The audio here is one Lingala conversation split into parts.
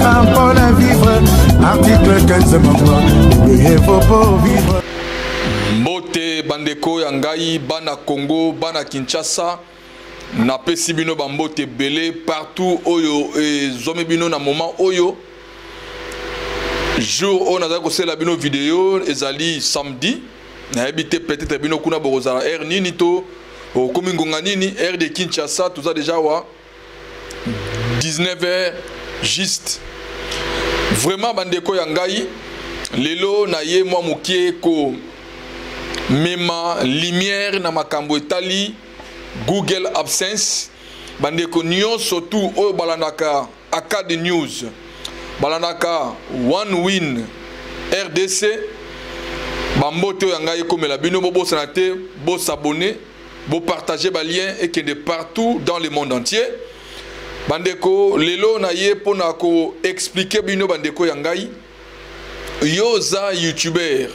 Apona vivre article 15 mama Veuillez vos pour vivre mbote bandeko ya ngai bana congo bana kinshasa napesi bino bambote ebele partout oyo ezwami bino na moment oyo jour oyo nazali kosalela bino video ezali samedi nayebi te peut-être bino kuna bokozala heure nini to okomi ngonga nini heure de kinshasa toza deja wa 19 heures juste vraiment bandeko ya ngai lelo na ye mwa moke komema lumière na makambo etali google absence bandeko nyonso tu oyo balandaka acad news balandaka one win rdc bambote oyo ya ngai ekomela bino bobosana te bosabone Bo partager ba lien ekende partout dans le monde entier. Bandeko lelo na ye pona ko expliquer bino bandeko ya ngai. Yoza youtuber,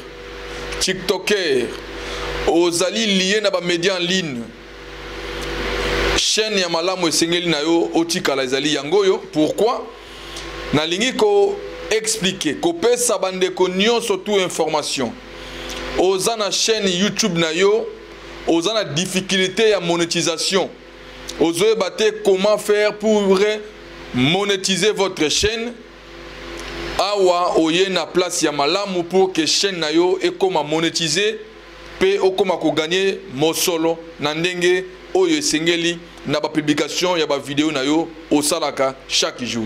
tiktoker, ozali lié na ba médias en ligne. Chaîne ya malamu esengeli na yo otikala ezali yango yo. Pourquoi? Nalingi ko expliquer, kopesa bandeko nyonso tout information. Oza na chaîne YouTube na yo oza na difficulté ya monétisation ozoyeba te comment faire pour monétiser votre chaîne awa oye na place ya malamu pour que chaîne na yo ekoma monétiser mpe okoma koganye mosolo na ndenge oyo esengeli na bapublikation ya bavideo na yo osalaka chaque jour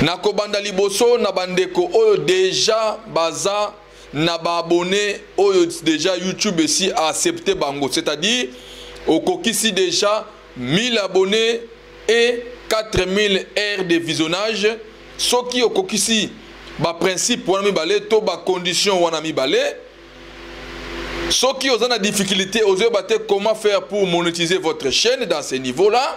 nakobanda liboso na bandeko oyo deja baza na ba abonné oyo déjà YouTube esi a accepté bango c'est-à-dire okokisi déjà 1000 abonnés et 4000 heures de visionnage soki okokisi ba principe wana mibale to ba condition wana mibale soki oza na difficulté ozoyeba te comment faire pour monétiser votre chaîne dans ce niveau là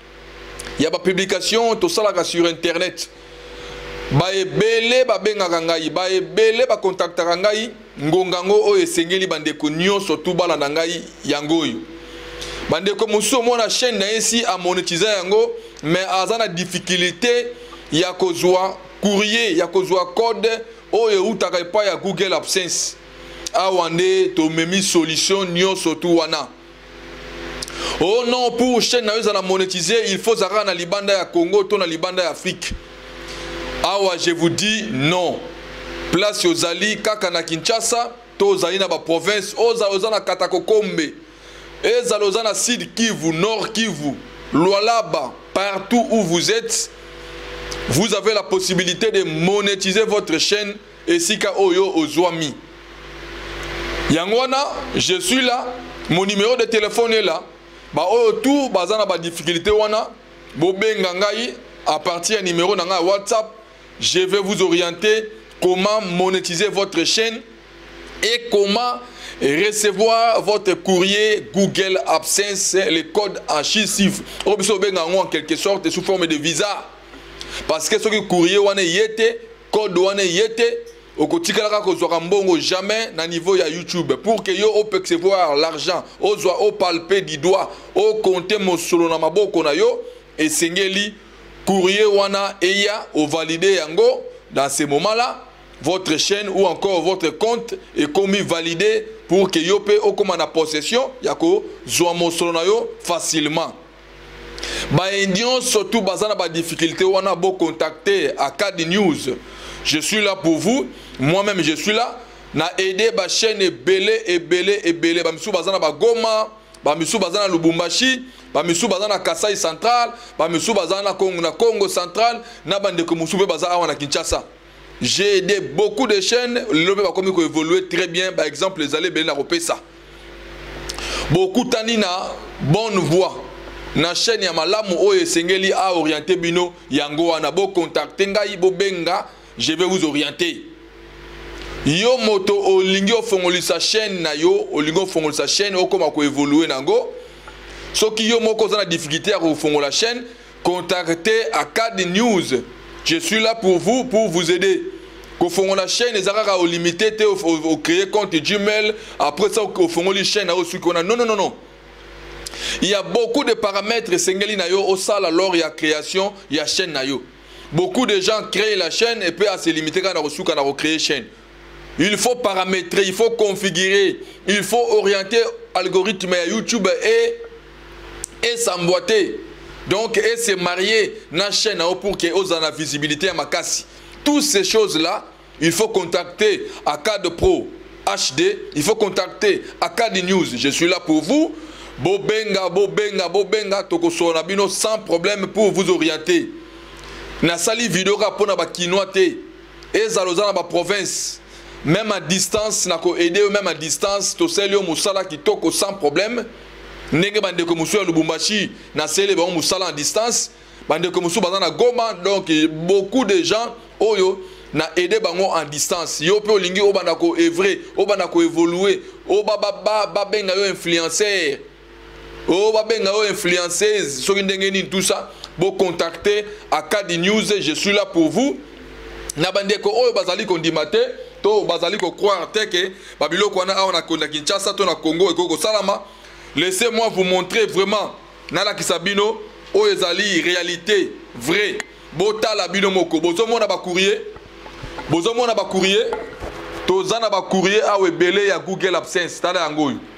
ya ba publication tosalaka sur internet baebele babengaka ngai baebele bakontaktaka ngai ngonga yango oyo esengeli bandeko nyonso tu bana na ngai yango oyo bandeko mosusu omona chaîne na ye si amonetiza yango mais aza na difficulté ya kozwa courrier ya kozwa code oyo eutaka epai ya google absence awa nde tomemi solution nyonso tu wana oh non pour chaîne na yo ezala monétise il faut ozalaka na libanda ya congo to na libanda ya afrique awa je vous dis non place ozali kaka na kinshasa to ozali na baprovince ozala oza na katakokombe ezala oza na sud kivu nord kivu lualaba partout où vous êtes vous avez la possibilité de monétiser votre chaîne esika oyo ozwami yango wana je suis là mon numéro de téléphone est là baoyo tout baza na badifficulté wana bobenga ngai à partir ya numéro na ngai ya whatsapp je vais vous orienter comment monétiser votre chaîne et comment recevoir votre courrier Google Absence, le code en chiffres. Au besoin en quelque sorte sous forme de visa. Parce que ce courrier, on est code wana eye te okotikalaka kozwaka mbongo jamais na niveau ya youtube pour que yo opercevoir l'argent ozwa opalpe du doigt okonte mosolo na maboko na yo esengeli courrier wana eya ovalide yango dans ce moment là votre chaîne ou encore votre compte ekomi validé pour que yo pe okoma na possession ya kozwa mosolo na yo facilement baye nyonso tu baza na badifficulté wana bocontacte acad news je suis là pour vous moi même je suis là na aide bachaîne ebele ebele ebele bamisusu baza na bagoma bamisusu baza na lubumbashi bamisusu baza na kasai central bamisusu baza na congo, na congo central na bandeko mosusu mpe baza awa na kinshasa j'ai aidé beaucoup de chaînes lelo mpe bakomi koévolue très bien baexemple ezali ebele na kopesa bokutani na bonne voie na chaîne ya malamu oyo esengeli a orienter bino yango wana bocontacte ngai bobenga je vais vous orienter yo moto olingi ofongolisa chaîne na yo olingi ofongolisa chaîne okoma koevolue na yango soki yo moko oza na difficulté ya kofongola chaîne contactez Acad News. Je suis là pour vous, pour vous aider. kofongola chaîne eza kaka olimite te ocree compte gmail après ça ofongoli chaîne na osuki wana non non non non il y a beaucoup de paramètres esengeli na yo osala lors ya création ya chaîne na yo beaucoup de gens créent la chaîne et puis à se limiter kaka na kosuka na kocree chaîne il faut paramétrer il faut configurer il faut orienter algorithme ya youtube et esamboite donc et se marier na chaîne yango pour que ozala na visibilité ya makasi toutes ces choses là il faut contacter acad pro hd il faut contacter acad news je suis là pour vous bobenga bobenga bobenga tokosola na bino sans problème pour vous orienter nasali video kaka mpo na bakinois te ezala oza na ba province même à distance na ko aider yo même à distance tosali yo mosala kitoko sans problème ndenge bandeko mosusu ya lubumbashi nasele bango mosala à distance bandeko mosusu baza na goma donc beaucoup de gens oyo na aide bango en distance yo mpe olingi obanda ko evre obanda ko evolue obabenga yo influencer Oh, babenga yo influenceuse soki ndenge nini tout ça bo contacter akadi news je suis là pour vous na bandeko oyo bazali kondima te to bazali kocroire te ke babiloko wana awa na konda kinshasa to na congo ekoki kosalama laissez moi vous montrer vraiment nalakisa bino oyo ezali réalité vrai botala bino moko bozomona bacourrier bozomona bacourrier toza na bacourrier awa ebele ya google absence tala yango oyo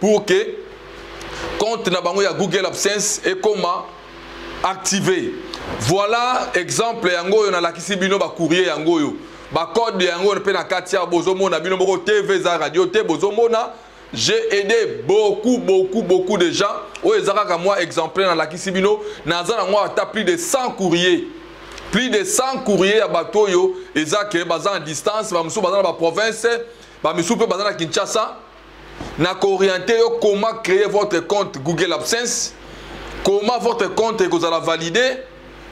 pour que compte na bango ya google absence ekoma activé voilà exemple yango oyo nalakisi bino bacourrier yango oyo bacode yango oyo mpe na kati ya bozomona bino moko tv eza radio te bozomona j'ai aidé beaucoup beaucoup beaucoup de gens oyo eza kaka mwa exemplaire nalakisi bino naza nango ata plus de 100 courrier plus de 100 courrier ya bato oyo eza ke baza en distance bamosusu baza na baprovince bamisusu mpe baza na kinshasa na ko orienter yo comment créer votre compte Google AdSense comment votre compte ekozala validé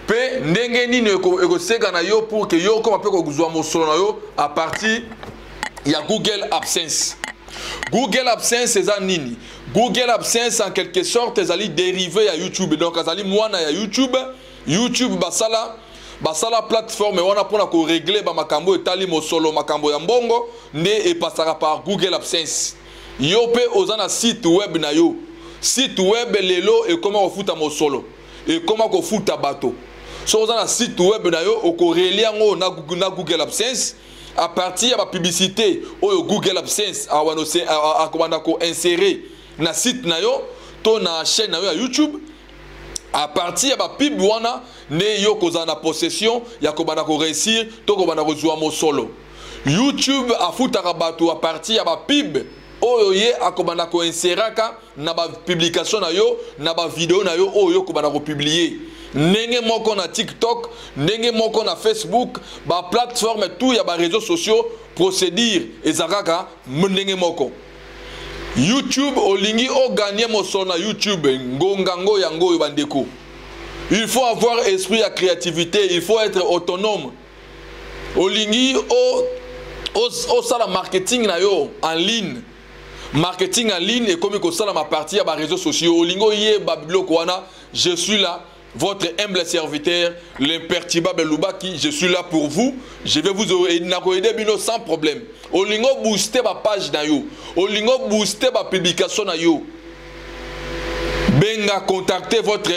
mpe ndenge nini ekoseka na yo pour que yo okoma mpe kozwa mosolo na yo à partir ya Google AdSense Google AdSense eza nini Google AdSense en quelque sorte ezali dérivé ya YouTube donc azali mwana ya YouTube youtube basala basala plateforme wana mpona koregle bamakambo oyo etali mosolo makambo ya mbongo nde epasaka par google absence yo mpe oza na site web na yo site web lelo ekoma kofuta mosolo ekoma kofuta bato soki oza na site web na yo okoreli yango na, na google absence à partir ya bapublicité oyo google absence akobanda koinsere na site na yo to na chaîne na yo ya youtube à partir ya bapib wana nde yo kozala na possession ya kobanda koreusir to kobanda kozwa mosolo youtube afutaka bato à partir ya bapib oyo ye akobanda koinseraka na bapublikation na yo na bavideo na yo oyo okobanda kopublie ndenge moko na tiktok ndenge moko na facebook baplateforme tout ya bareseau sociaux procédure ezalaka ndenge moko youtube olingi o gagne mosolo na youtube ngonga ngo yango oyo bandeko il faut avoir esprit ya créativité il faut être autonome olingi osala marketing na yo en ligne marketing en ligne ekomi kosalama parti ya bareseau sociaux olingi oyeba biloko wana je suis là Votre humble serviteur, l'imperturbable Lubaki, je suis là pour vous. Je vais vous aider bino sans problème. Olingo booster ma page na yo. Olingo booster ma publication na yo. Benga contactez votre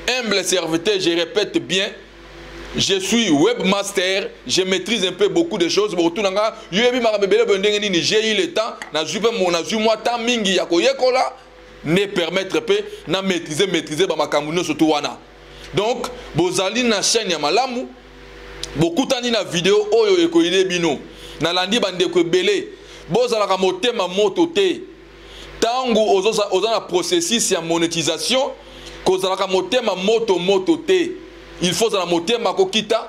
humble serviteur, je répète bien. Je suis webmaster, je maîtrise un peu beaucoup de choses. Bon, tout le monde, j'ai eu le temps, j'ai eu moi temps mingi ya koyekola. ne permettre pe na maîtriser maîtriser ba makambo nyonso to wana donc bozali na chaîne ya malamu bokutani na video oyo ekoyele bino nalandi bandeko ebele bozalaka motema moto te ntango oza, oza na processus ya monétisation kozalaka motema moto moto te il faut ozala motema kokita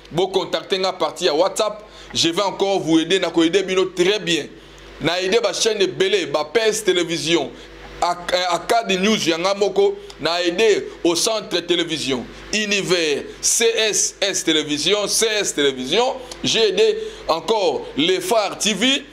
Bo contacter nga partie ya WhatsApp, je vais encore vous aider na ko aider bino très bien. Na aider ba chaînes ebele, ba PS télévision, akadi news ya nga moko na aide au centre télévision univers css télévision cs télévision j'ai aidé encore les phares tv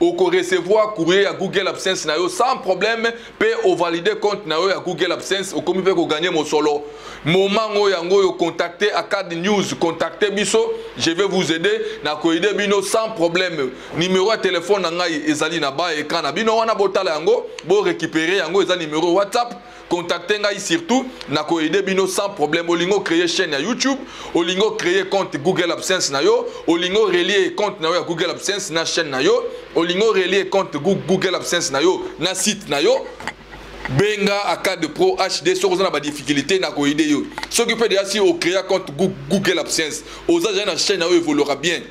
oko recevoir courrier ya google absence na yo sans problème mpe ovalide compte na yo ya google absence okomi mpe koganye mosolo moment ngo yango oyo contacte acad news contacte biso je vais vous aider na koaide bino sans problème numero ya telefone na ngai ezali na ba écran na bino wana botala yango borécupere yango eza numero whatsapp contacte ngai surtout na ko aider bino sans problème olingo créer chaîne ya YouTube olingo créer compte Google AdSense na yo olingo relier compte na yo ya Google AdSense na chaîne na yo olingo relier compte Google AdSense na yo na site na yo benga acad pro hd soki oza na badifficulté na koyede yo soki mpe deya si ocréa compte google absence oza zali na chaîne na yo evoluera bien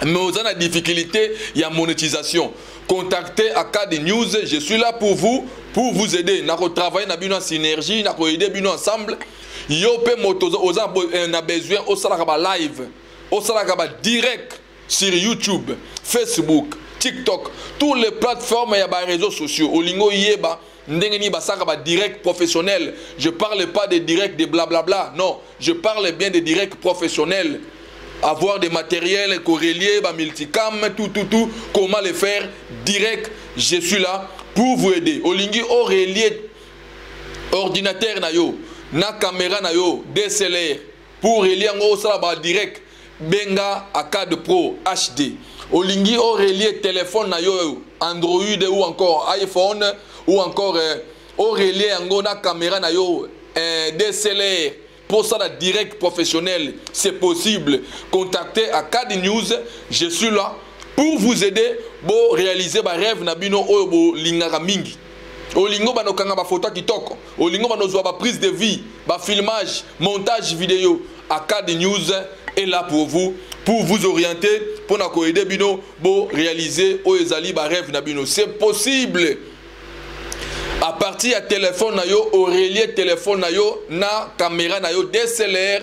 mais oza na difficulté ya monétisation contactez Acad News je suis là pour vous pour vous aider nako travailler na bino en synergie nako aider bino ensemble yo pe moto oza euh, na besoin osalaka ba live osalaka ba direct sur YouTube Facebook TikTok toutes les plateformes ya ba réseaux sociaux olingo yeba ndenge nini basaka ba direct professionnel je parle pas de direct de blablabla non je parle bien de direct professionnel avoir des matériels corrélier ba multicam tout tout tout comment le faire direct je suis là pour vous aider olingi o relier ordinateur na yo na caméra na yo DSLR pour relie yango osala ba direct benga acad pro hd olingi orelie telefone na yo android ou encore iphone ou encore eh, orelie yango na kamera na yo eh, dslr mpo osala direct professionnel c'est possible contactez acad news je suis là pour vous aider boréalise barêve na bino oyo bolingaka mingi olingo bana okanga bafoto ya kitoko olingo bana ozwa baprise de vie bafilmage montage video acad news est là pour vous pour vous orienter mpo na koyede bino borealize oyo ezali barêve na bino c'est possible à partir ya telefone na yo orelie telefone na yo na kamera na yo dslr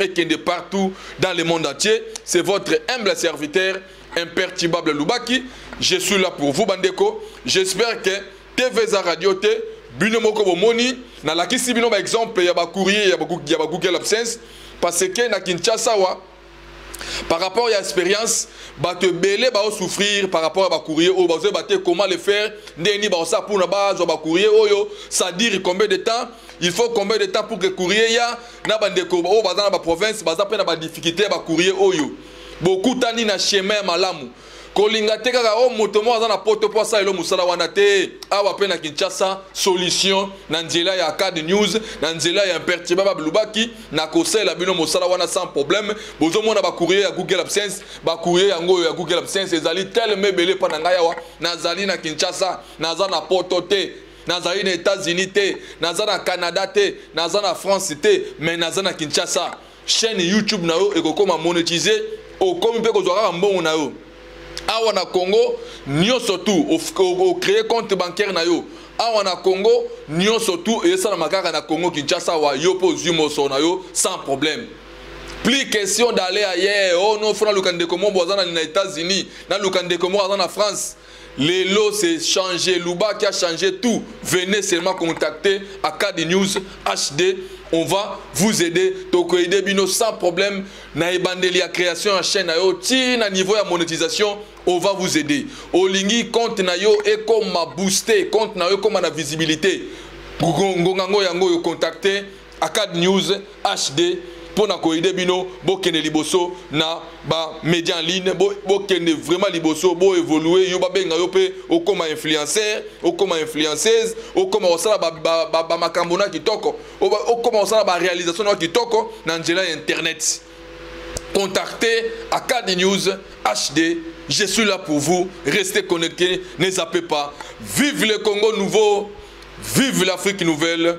et kende partout dans le monde entier. C'est votre humble serviteur, imperturbable Lubaki. Je suis là pour vous, Bandeko. J'espère que TVZ Radio T, Bino Moko Bomoni, na lakisi bino ba exemple ya ba courrier ya ba Google Absence parce que na Kinshasa wa par rapport à l'expérience, bah te belé bah souffrir par rapport à bah courrier ou bah bah comment le faire, ni bah ça pour la base bah courrier oh yo, ça dire combien de temps, il faut combien de temps pour que courrier ya, na bandeko oyo baza na baprovince baza mpe na badifficulté ya bacourrier oyo bokutani na chemin ya malamu kolinga te kaka o oh, moto moko aza na poto mpo asalelo mosala wana te awa mpe na kinshasa solution na nzela ya cad news na nzela ya impertiba babilubaki na kosalela bino mosala wana sans problème bozomona bacourrier ya google absence bacourrier yango oyo ya google absence ezali teleme ebele mpo na ngai awa nazali na kinshasa naza na poto te nazali na états-unis te naza na canada te naza na france te mais naza na kinshasa chaîne youtube na yo ekokoma monétise okomi mpe kozwa kaka mbongo na yo awa na congo nyonso tu ocree compte bancaire na yo awa na congo nyonso tu esalama kaka na congo kinshasa awa yo mpe ozwi mosolo na yo sans problème plus question d'aller ailleurs oh non fo naluka ndeko moko aza na états-unis naluka ndeko moko aza na france Lelo c'est changé, Luba qui a changé tout. Venez seulement contacter Akadi News HD. On va vous aider. Toko aider Bino sans problème. Na ebandeli ya création en chaîne na yo. Ti na niveau ya monétisation, on va vous aider. Olingi compte na yo et comme booster, compte na yo comme na visibilité. Ngonga ngo yango yo contacter Acad News HD pona ko aider bino bokende liboso na ba media en ligne bokende bo vraiment liboso bo évoluer yo babenga yo pe okoma influenceur okoma influenceuse okoma kosala ba, ba, ba, ba makambo na kitoko okoma kosala ba réalisation na kitoko na nzela ya internet contactez Acad News HD je suis là pour vous restez connectés ne zappez pas vive le Congo nouveau vive l'Afrique nouvelle